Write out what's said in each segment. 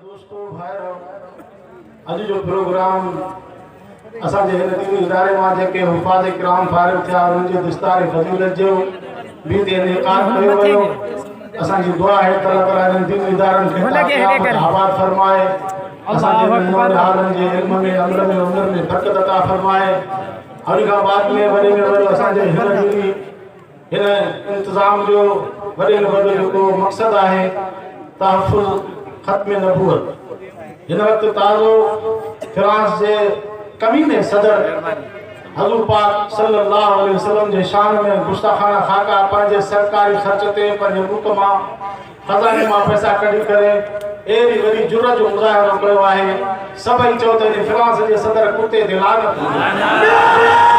دوستو ڀائرو اڄ جو پروگرام اسان جي هن ديني اداري مان جيڪي حفاظ کرام فارغ ٿيا انهن جي دستار فضيلت جو به تي انعقاد ڪيو ويو اسان جي دعا آهي ته الله تعاليٰ انهن ديني ادارن کي قيامت آباد فرمائي اسان جي ننڍڙن ٻارن جي علم ۾ عمل ۾ عمر ۾ برڪت عطا فرمائي هن کان بعد ۾ وڏي ۾ وڏو اسان جي هن ڏينهن هن انتظام جو وڏي ۾ وڏو جيڪو مقصد آهي تحفظ ختم نبوت هن وقت تازو فرانس جي ڪميني صدر حضور پاڪ صلي الله عليه وسلم جي شان ۾ گستاخانه خاڪا پنهنجي سرڪاري خرچ تي پنهنجي ملڪ مان خزاني مان پئسا ڪڍي ڪري اهڙي وڏي جرئت جو مظاهرو ڪيو آهي سڀئي چئو ته ان فرانس جي صدر ڪتي تي لعنت هجي.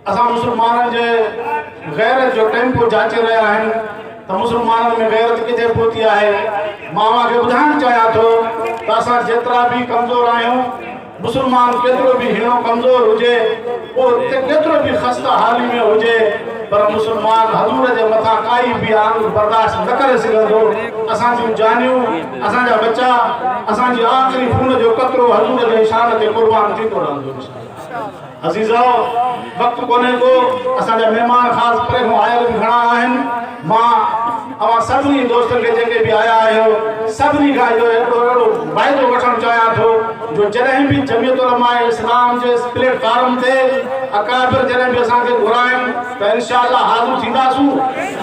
اسان مسلمانن جي غيرت جو ٽيمپو جاچي رهيا آهن ته مسلمانن ۾ غيرت ڪٿي پهتي آهي مان اوهان کي ٻڌائڻ چاهيان ٿو ته اسان جيترا به ڪمزور آهيون مسلمان ڪيترو به هيڻو ڪمزور هجي اهو ڪيترو به خسته حالي ۾ هجي پر مسلمان حضور جي مٿان ڪائي به آنگ برداشت نه ڪري سگهندو اسان جون جانيون اسان جا ٻچا اسان جي آخري خون جو قطرو حضور جي شان تي قربان ٿيندو رهندو عزيزؤ! وقت ڪونهي ڪو، اسان جا مهمان خاص پري کان آيل به گهڻا آهن. مان اوهان سڀني دوستن کي جيڪي به آيا آهيو، سڀني کان اهو هڪڙو اهڙو وعدو وٺڻ چاهيان ٿو جو جڏهن به جمعيت علماء اسلام جي اس پليٽ فارم تي اڪابر جڏهن به اسان کي گهرائن ته انشاء الله حاضر ٿينداسون.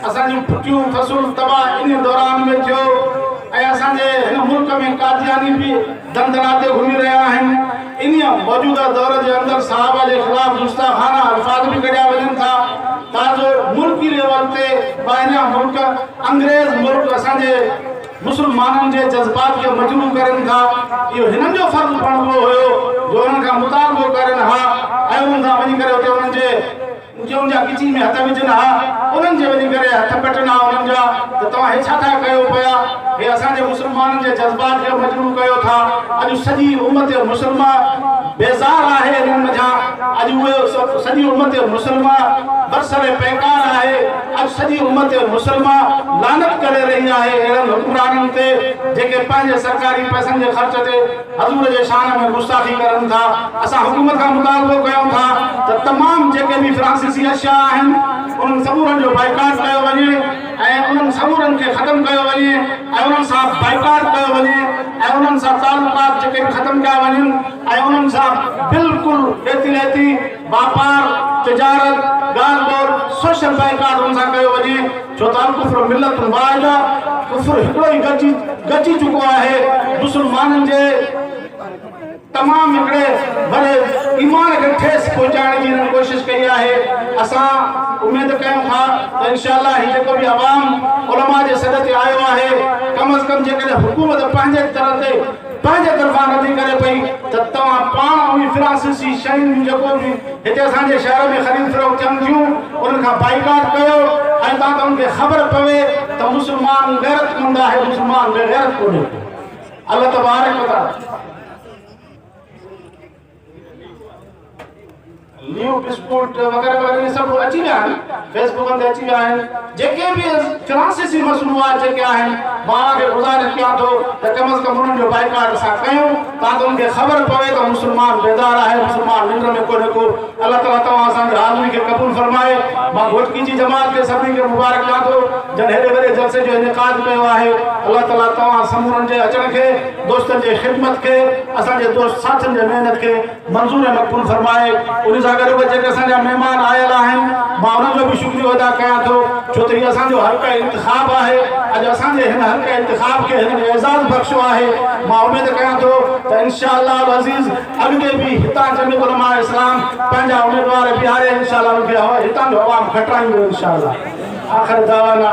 اسان جون پٺيون فصول تباهه انهي دوران ۾ ٿيو ۽ اسان جي هن ملڪ ۾ قادياني به دندناٽي گهمي رهيا آهن. انهي موجوده دور جي اندر صحابه جي خلاف گستاخانه الفاظ به ڪڍيا وڃن ٿا. تان جو ملڪي ليول تي ٻاهريان ملڪ، انگريز ملڪ اسان جي مسلمانن جي جذبات کي مجروح ڪرين ٿا. اهو هنن جو فرض بڻبو هيو جو انهن کان مطالبو ڪرين ها ۽ انهن سان وڃي ڪري اتي انهن جي ڄون جا ڳچي ۾ هٿ وجهن ها، انهن جي وڃي ڪري هٿ ڪٽن ها انهن جا ته توهان هي ڇا ٿا ڪيو پيا؟ هي اسان جي مسلمانن جي جذبات کي مجروح ڪيو ٿا. اڄ سڄي امت مسلمه بيزار آهي انهن منجهان. اڄ اهي سڄي امت مسلمه برسر پيڪار آهي. اڄ سڄي امت مسلمه لعنت ڪري رهي آهي اهڙن حڪمرانن تي جيڪي پنهنجي سرڪاري پئسن جي خرچ تي حضور جي شان ۾ گستاخي ڪرن ٿا اسان حڪومت کان مطالبو ڪيون ٿا ته تمام جيڪي به فرانسيسي اشياء آهن انهن سمورن جو بائيڪاٽ ڪيو وڃي ۽ انهن سمورن کي ختم ڪيو وڃي ۽ انهن سان بائيڪاٽ ڪيو وڃي ۽ انهن سان تعلقات جيڪي به ختم ڪيا وڃن ۽ انهن سان بلڪل ڏيتي ليتي واپار، تجارت، ڳالهه ٻولهه سوشل بائيڪاٽن سان ڪيو وڃي ڇو ته الڪفر ملة واحده، ڪفر هڪڙو ئي گڏجي گڏجي چڪو آهي، مسلمانن جي تمام هڪڙي وڏي ايمان کي ٺيس پهچائڻ جي هنن ڪوشش ڪئي آهي، اسان اميد ڪيون ٿا ته انشاء الله هي جيڪو به عوام علماء جي سڏ تي آيو آهي ڪم از ڪم جيڪڏهن حڪومت پنهنجي طرح تي پنهنجي طرفان ردي ڪري پئي ته توهان پاڻ اوهين فرانسيسي شين جون جيڪو به هتي اسان جي شهر ۾ خريد فروخت ٿين ٿيون انهن کان بائيڪاٽ ڪيو ۽ تان ته انهن کي خبر پوي ته مسلمان غيرت مند آهي مسلمان بي غيرت ڪونهي الله تبارڪ وتعالي نيو ڊسپورٽ وغيره وغيره سڀ اچي ويا آهن فيسبڪن تي اچي ويا آهن جيڪي به ڪلاسيسي مصنوعات جيڪي آهن ماء کي گذارش ڪيان ٿو ته ڪم از ڪم انهن جو بائيڪاٽ اسان ڪيون تاڪه ان کي خبر پوي ته مسلمان بيدار آهي مسلمان ننڊ ۾ ڪو نه ڪو الله تعالیٰ توهان اسان جي حاضري کي قبول فرمائي مان گهوٽڪي جي جماعت کي سڀني کي مبارڪ ڏيان ٿو جن هيڏي وڏي جلسي جو انعقاد ڪيو آهي الله تعالیٰ توهان سمورن جي اچڻ کي دوستن جي خدمت کي اسان جي دوست ساٿين جي محنت کي منظور ۽ مقبول فرمائي ان سان گڏ به جيڪي اسان جا مهمان آيل آهن مان انهن جو به شڪريو ادا ڪيان ٿو ڇو ته هي اسان جو حلقه انتخاب آهي اڄ اسان جي هن حلقه انتخاب کي هنن اعزاز بخشيو آهي مان اميد ڪيان ٿو ته انشاء الله العزيز اڳتي به هتان جميعت علماء اسلام پنهنجا اميدوار بيهاري انشاء الله ان کي هتان جو عوام کٽرائيندو انشاء الله آخر دعوانا